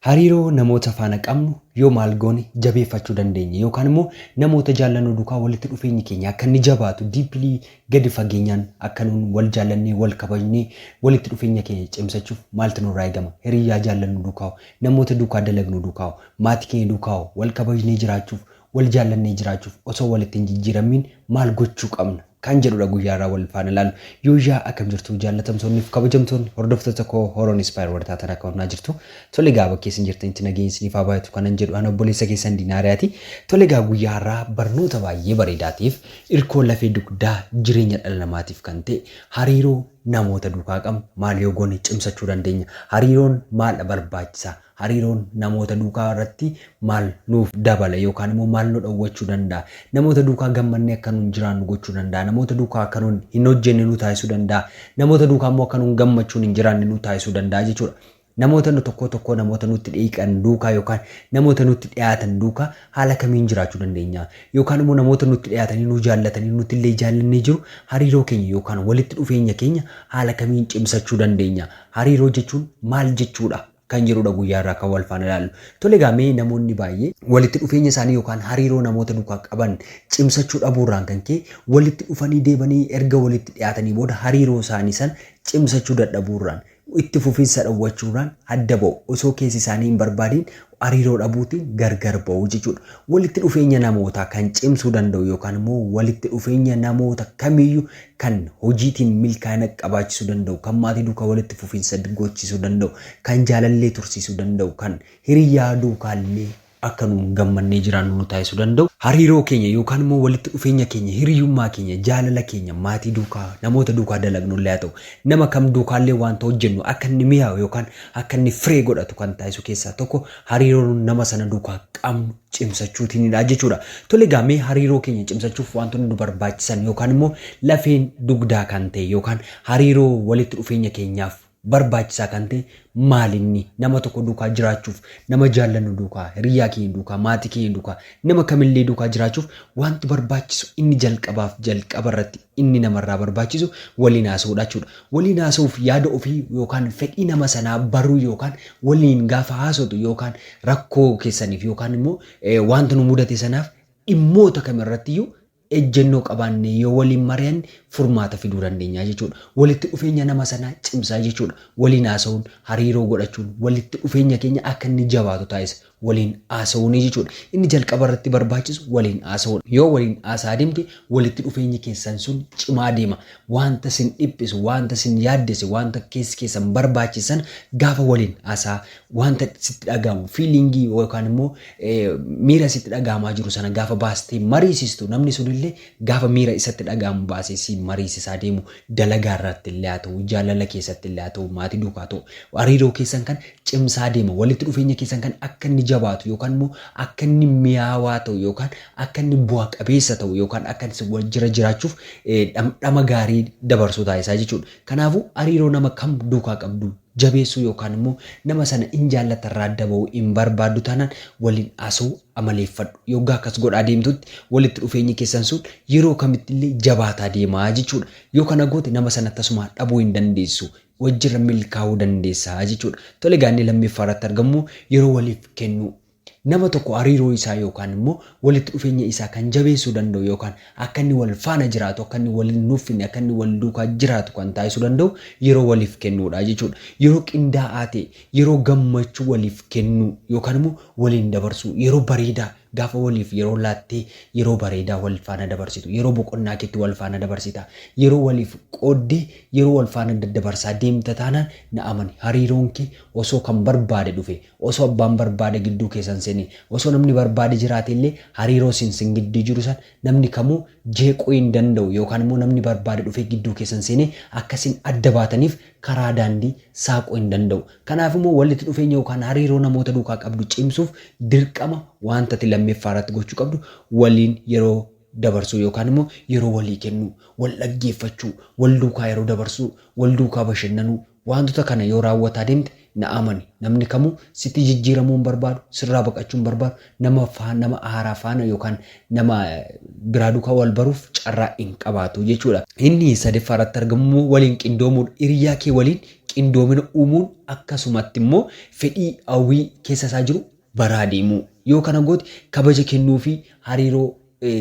Hariiroo namoota faana qabnu yoo maal goone jabeeffachuu dandeenya yookaan immoo namoota jaallannu duukaa walitti dhufeenyi keenya akka inni jabaatu deeply gadi fageenyaan akka nuun wal jaallannee wal kabajnee walitti dhufeenya keenya cimsachuuf maaltu nurraa eegama? Hiriyyaa jaallannu duukaa hoo? Namoota duukaa dalagnu duukaa hoo? Maatii keenya duukaa hoo? Wal kabajnee jiraachuuf Wal jaallannee jiraachuuf osoo walitti hin jijjiirammiin maal gochuu qabna? Kan jedhudha guyyaa har'aa wal faana ilaallu. Yooyyaa akkam jirtu jaallatamtoonni fi kabajamtoonni hordoftoota koo Horoon Inspire warri taatan akka hunaa jirtu. Tole egaa bakkee isin jirtanitti nageenyi isiniif haa baay'atu kanan jedhu ana obboleessa keessan Dinaariyaati. Tole egaa guyyaa har'aa barnoota baay'ee bareedaa ta'eef irkoo lafee dugdaa jireenya dhala namaatiif kan ta'e hariiroo namoota duukaa qabnu maal yoo goone cimsachuu dandeenya? Hariiroon maaldha barbaachisaa? Hariiroon namoota duukaa irratti maal nuuf dabala yookaan immoo maal nu dhowwachuu danda'a? Namoota duukaa gammannee akka nun jiraannu gochuu danda'a. Namoota duukaa akka nun hin hojjenne nu taasisuu danda'a. Namoota duukaa immoo akka nun gammachuun hin jiraanne nu taasisuu danda'a jechuudha. Namoota nu tokkoo tokkoo namoota nutti dhiiqan duukaa yookaan namoota nutti dhiyaatan duukaa haala kamiin jiraachuu dandeenya? Yookaan immoo namoota nutti dhiyaatanii nu jaallatanii nuti illee jaallannee jiru hariiroo keenya yookaan walitti dhufeenya keenya haala kamiin cimsachuu dandeenya? Hariiroo jechuun maal jechuudha? kan jedhudha guyyaa irraa kan wal faana ilaallu. Tole egaa mee namoonni baay'ee walitti dhufeenya isaanii yookaan hariiroo namoota duukaa qaban cimsachuu dhabuu irraan kan ka'e walitti dhufanii deebanii erga walitti dhiyaatanii booda hariiroo isaanii san cimsachuu dadhabuu irraan itti fufinsa dhowwachuu irraan adda ba'u. Osoo keessi isaanii hin barbaadiin hariiroo dhabuutiin gargar ba'u jechuudha. Walitti dhufeenya namootaa kan cimsuu danda'u yookaan immoo walitti dhufeenya namoota kamiyyuu kan hojiitiin milkaa'ina qabaachisuu danda'u, kan maatii duukaa walitti fufiinsa goochisuu danda'u, kan jaalallee tursiisuu danda'u, kan hiriyyaa duukaallee akka nuun gammannee jiraannu nu taasisuu danda'u, hariiroo keenya yookaan immoo walitti dhufeenya keenya, hiriyyummaa keenya, jaalala keenya maatii duukaa, namoota duukaa dalagnullee haa ta'u, nama kam duukaallee waanta hojjennu akka inni miyaa'u yookaan akka inni firee godhatu kan taasisu keessaa tokko hariiroon nama sana duukaa qabnu cimsachuutiinidha jechuudha. Tole egaa mee hariiroo keenya cimsachuuf wantoonni nu barbaachisan yookaan immoo lafeen dugdaa kan ta'e yookaan hariiroo walitti dhufeenya keenyaaf barbaachisaa kan ta'e maalinni nama tokko duukaa jiraachuuf nama jaallannu duukaa hiriyyaa keenya duukaa maatii keenya duukaa nama kamillee duukaa jiraachuuf wanti barbaachisu inni jalqabaaf jalqaba irratti inni namarraa barbaachisu waliin haasa'uudha jechuudha. Waliin haasa'uuf yaada ofii yookaan fedhii nama sanaa baruu yookaan waliin gaafa haasotu yookaan rakkoo keessaniif yookaan immoo wanta nu mudate sanaaf dhimmoota kam irrattiyyuu ejjennoo qabaannee yoo waliin mari'anne furmaata fiduu dandeenya jechuudha. Walitti dhufeenya nama sanaa cimsa jechuudha. Waliin haasa'uun, hariiroo godhachuun walitti dhufeenya keenya akka inni jabaatu taasisa. waliin haasa'uunii jechuudha. Inni jalqaba irratti barbaachisu waliin haasa'uudha. Yoo waliin haasa'aa deemte walitti dhufeenyi keessan sun cimaa deema. Waanta sin dhiphisu, waanta sin yaaddesse, waanta keessi keessan barbaachise sana gaafa waliin haasa'aa waanta sitti dhaga'amu fiiliingii yookaan immoo miira sitti dhaga'amaa jiru sana gaafa baastee mariisistu namni sunillee gaafa miira isatti dhaga'amu baasee siin mariisisaa deemu dalagaa irratti illee haa ta'u, jaalala keessatti illee haa ta'u, maatii duukaa haa ta'u, hariiroo keessan kan cimsaa deema. Walitti dhufeenya keessan kan akka inni jabaatu yookaan immoo akka inni miyaawaa ta'u yookaan akka inni bu'a qabeessa ta'u yookaan akka isin wal jira jiraachuuf dhamdhama gaarii dabarsuu taasisaa jechuudha. Kanaafuu hariiroo nama kam duukaa qabdu jabeessuu yookaan immoo nama sana in jaallatta irraa adda ba'uu in barbaaddu taanaan waliin haasa'uu amaleeffadhu. Yoggaa akkas godhaa deemtutti walitti dhufeenyi keessan sun yeroo kamitti illee jabaataa deema jechuudha. Yoo kana goote nama sana tasumaa dhabuu hin dandeessu. wajjirra milkaa'uu dandeessa jechuudha. Tole egaa inni lammeeffaa irratti argamu yeroo waliif kennuu. Nama tokko hariiroo isaa yookaan immoo walitti dhufeenya isaa kan jabeessuu danda'u yookaan akka inni wal faana jiraatu, akka inni wal hin nuffinne, akka inni wal duukaa jiraatu kan taasisuu danda'u yeroo waliif kennuudha jechuudha. Yeroo qindaa'aa ta'e, yeroo gammachuu waliif kennuu yookaan immoo waliin dabarsuu, yeroo bareedaa, Gaafa waliif yeroo laatte yeroo bareedaa wal faana dabarsitu, yeroo boqonnaa keetti wal faana dabarsita, yeroo waliif qoodde yeroo wal faana daddabarsaa deemta taanaan na amani hariiroon kee osoo kan barbaade dhufe, osoo abbaan barbaade gidduu keessan seene, osoo namni barbaade jiraate illee hariiroo isin sin gidduu jiru san namni kamuu jeequu hin danda'u yookaan immoo namni barbaade dhufee gidduu keessan seenee akka isin adda baataniif karaa daandii saaquu hin danda'u. Kanaaf immoo wallitti dhufeenya yookaan hariiroo namoota duukaa qabdu cimsuuf dirqama waanta ati lammeffaa irratti gochuu qabdu waliin yeroo dabarsuu yookaan immoo yeroo walii kennuu, wal dhaggeeffachuu, wal duukaa yeroo dabarsuu, wal duukaa bashannanuu waantota kana yoo raawwataa deemte Na amani, namni kamuu sitti jijjiiramuu hin barbaadu, sirraa baqachuu hin barbaadu, nama faa, nama haaraa faana yookaan nama biraa duukaa wal baruuf carraa hin qabaatu jechuudha. Inni sadeeffaa irratti argamu immoo waliin qindoomuudha. Hiriyaa kee waliin qindoomina uumuun akkasumatti immoo fedhii, hawwii keessa isaa jiru baraa deemuu. Yoo kana goote kabaja kennuufii hariiroo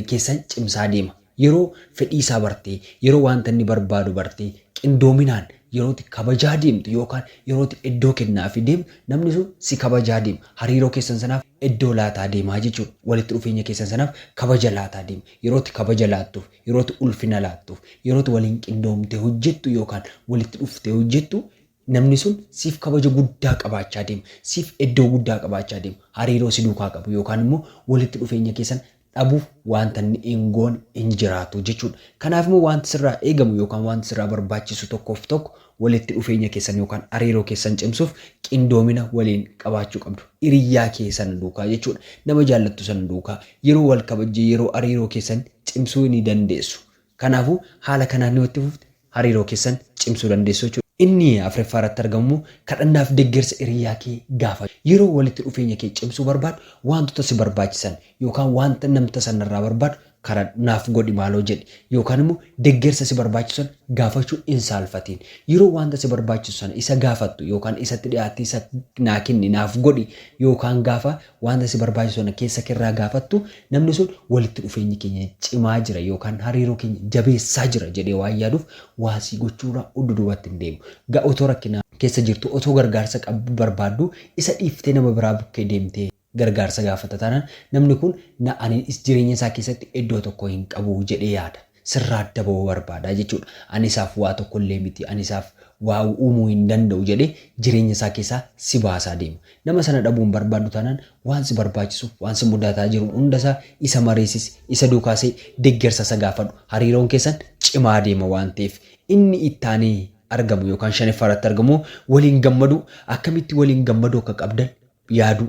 keessan cimsaa deema. Yeroo fedhii isaa bartee, yeroo wanta inni barbaadu bartee, qindoominaan yeroo ati kabajaa deemtu yookaan yeroo ati iddoo kennaafii deemtu, namni sun si kabajaa deema. Hariiroo keessan sanaaf iddoo laataa deema jechuudha. Walitti dhufeenya keessan sanaaf kabaja laataa deema. Yeroo ati kabaja laattuuf, yeroo ati ulfina laattuuf, yeroo ati waliin qindoomtee hojjettu yookaan walitti dhuftee hojjettu Namni sun siif kabaja guddaa qabaachaa deema. Siif eddoo guddaa qabaachaa deema. Hariiroo si duukaa qabu yookaan immoo walitti dhufeenya keessan dhabuuf waanta inni hin goone hin jiraatu jechuudha. Kanaaf immoo waanti sirraa eegamu yookaan waanti sirraa barbaachisu tokkoof tokko walitti dhufeenya keessan yookaan hariiroo keessan cimsuuf qindoomina waliin qabaachuu qabdu. Hiriyyaa kee sana duukaa jechuudha. Nama jaallattu sana duukaa yeroo wal kabajjee yeroo hariiroo keessan cimsuu ni dandeessu. Kanaafuu, haala kanaan yoo itti fufte hariiroo keessan cimsuu dandeessu jechuudha. Inni afraffaa irratti argamu immoo kadhannaaf deggersa hiriyyaa kee gaafadhu. Yeroo walitti dhufeenya kee cimsuu barbaaddu waantota si barbaachisan yookaan waanta namta san irraa barbaadu kadhadhu. Naaf godhi maaloo jedhi. Yookaan immoo deggersa si barbaachisu san gaafachuu hin saalfatiin. Yeroo waanta si barbaachisu sana isa gaafattu yookaan isatti dhiyaattee isa naa kenni, naaf godhi yookaan gaafa Wanta si barbaachisu sana keessa kee irraa gaafattu, namni sun walitti dhufeenyi keenya cimaa jira yookaan hariiroo keenya jabeessaa jira jedhee waan yaaduuf waa sii gochuu irraa uddu duubatti hin deemu. Ga otoo rakkina keessa jirtuu, otoo gargaarsa qabdu barbaadduu isa dhiiftee nama biraa bukkee deemtee gargaarsa gaafatta taanaan namni kun na ani jireenya isaa keessatti iddoo tokko hin qabu jedhee yaada. sirraa adda ba'uu barbaada jechuudha. Ani isaaf waa tokko illee miti, ani isaaf waa uumuu hin danda'u jedhee jireenya isaa keessaa si baasaa deema. Nama sana dhabuu hin barbaaddu taanaan waan si barbaachisu, waan si mudataa jiru hunda isaa isa mariisisi, isa duukaa see'i, deggersa isa gaafadhu. Hariiroon keessan cimaa deema waan ta'eef. Inni itti aanee argamu yookaan shaneffaa irratti argamu waliin gammaduu, akkamitti waliin gammaduu akka qabdan yaaduu,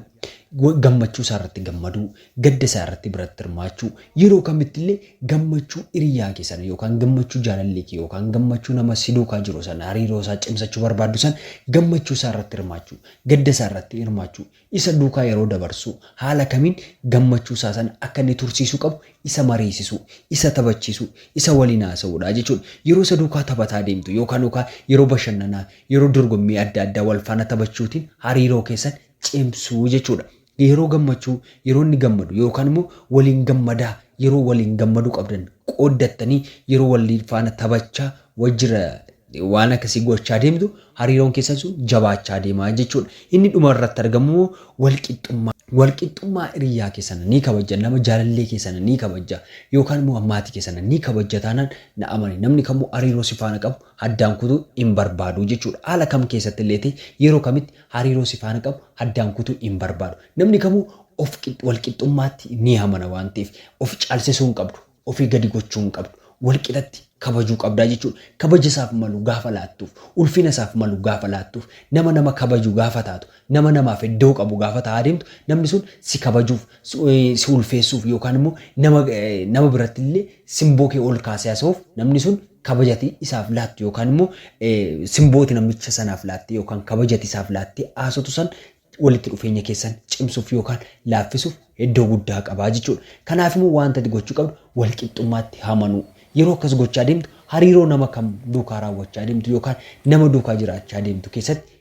gammachuu isaa irratti gammaduu, gadda isaa irratti biratti hirmaachuu, yeroo kamitti illee gammachuu hiriyaa kee sana yookaan gammachuu jaalallee kee yookaan gammachuu nama si duukaa jiru sana hariiroo isaa cimsachuu barbaaddu sana gammachuu isaa irratti hirmaachuu, gadda isaa irratti hirmaachuu, isa duukaa yeroo dabarsuu, haala kamiin gammachuu isaa sana akka inni tursiisuu qabu isa mariisisuu, isa taphachiisuu, isa waliin haasa'uudha jechuudha. Yeroo isa duukaa taphataa deemtu yookaan yookaan yeroo bashannanaa Yeroo dorgommii adda addaa wal faana taphachuutiin hariiroo keessan cimsuu jechuudha. Yeroo gammachuu, yeroo inni gammadu yookaan immoo waliin gammadaa yeroo waliin gammaduu qabdan qooddattanii yeroo wal faana taphachaa wajjira waan akkasii gochaa deemtu hariiroon keessan sun jabaachaa deemaa jechuudha. Inni dhuma irratti argamu immoo wal qixxummaa. Wal qixxummaa hiriyaa keessana ni kabajja nama jaalallee keessana ni kabajja yookaan immoo maatii keessana ni kabajja taanaan na amani namni kamuu hariiroo si faana qabu addaan kutuu hin barbaadu jechuudha. Haala kam keessatti illee ta'e yeroo kamitti hariiroo si faana qabu addaan kutuu hin barbaadu. Namni kamuu of walqixxummaatti ni amana waan ta'eef of caalsisuu hin qabdu. Ofii gadi gochuu hin qabdu. Walqixatti kabajuu qabdaa jechuudha. Kabaja isaaf malu gaafa laattuuf, ulfina isaaf malu gaafa laattuuf, nama nama kabaju gaafa taatu, nama namaaf iddoo qabu gaafa ta'aa deemtu, namni sun si kabajuuf, si ulfeessuuf yookaan immoo nama nama biratti illee simboo kee ol kaasee haasa'uuf namni sun kabaja ati isaaf laattu yookaan immoo simbooti namicha sanaaf laatte yookaan kabaja ati isaaf laatte haasotu san walitti dhufeenya keessan cimsuuf yookaan laaffisuuf iddoo guddaa qabaa jechuudha. Kanaaf immoo wanta ati gochuu qabdu wal qixxummaatti hamanuu. Yeroo akkas gochaa deemtu hariiroo nama kam duukaa raawwachaa deemtu yookaan nama duukaa jiraachaa deemtu keessatti